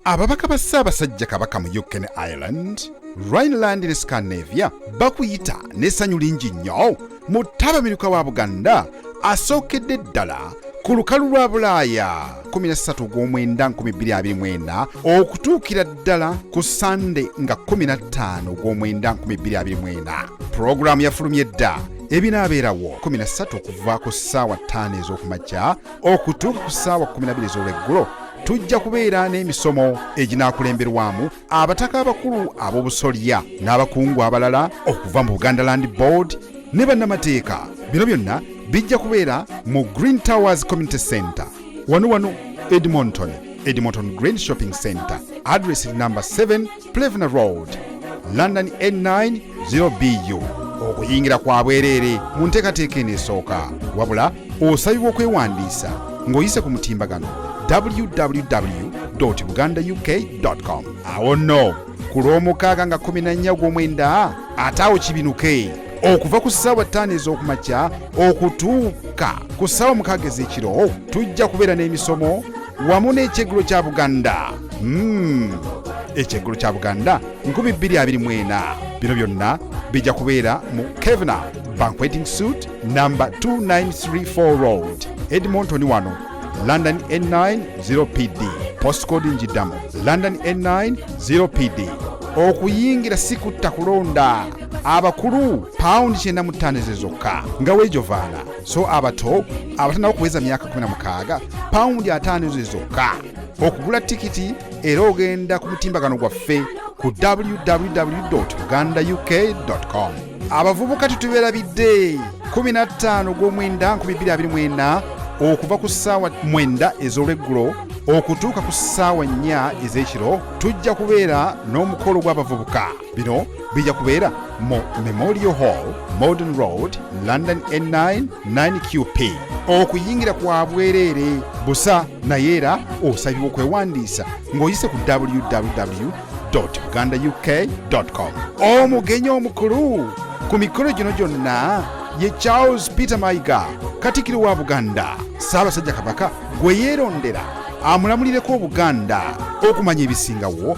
ababaka ba ssaabasajja kabaka mu uk ne ireland rhineland ne scandinavia bakuyita n'essanyu lingi nnyo mu ttabamiruka wa buganda asookedde ddala ku lukalu lwa bulaaya 13 ogw'omwenda 2024 okutuukira ddala ku sande nga 15 ogw'omwenda 2024 pulogulaamu yafulumye dda ebinaabeerawo 13 okuva ku ssaawa 5 ez'okumakya okutuuka ku ssaawa 12 ez'olweggulo tujja kubeera n'emisomo eginaakulemberwamu abataka abakulu ab'obusolya n'abakungu abalala okuva mu buganda land board ne bannamateeka bino byonna bijja kubeera mu green towers community center wano wano edmonton edmonton green shopping center address number 7 plevna road london n9 0bu okuyingira kwa bwereere mu nteekateeka eno esooka wabula osabibwa okwewandiisa ng'oyise ku mutimbagano www buganda uk com awo nno ku lw'omukaaga nga 14 ogw'omwenda ate awo kibinuke okuva ku ssaawa ttaano ez'okumakya okutuuka ku ssaawa mukaaga ez'ekiro tujja kubeera n'emisomo wamu n'ekyeggulo kya buganda hmm. ekyeggulo kya buganda 224 bino byonna bijja kubeera mu kevna banqueting suit namba 2934 road edmonton wano london n9 0 pd postcode njiddamu london n9 0 pd okuyingira si kutta kulonda abakulu pawundi kyenda mu ttaano ezo zokka nga weejovaana so abato abatanaba okuweza myaka 16 pawundi ataano ezo zokka okugula tikiti era ogenda ku mutimbagano gwaffe ku www uganda uk com abavubuka tetubeerabidde 15 gw'omwenda 224 okuva ku ssaawa mwenda ez'olweggulo okutuuka ku ssaawa nnya ez'ekiro tujja kubeera n'omukolo gw'abavubuka bino bijja kubeera mu memorial hall modern road london n9 9qp okuyingira kwa bwereere busa naye era osabibwa okwewandiisa ng'oyise ku www uganda uk com omugenyi omukulu ku mikolo gino gyonna ye charles peter maiga katikiro wa buganda ssaabasajja kabaka gwe yeerondera amulamulireko obuganda okumanya ebisingawo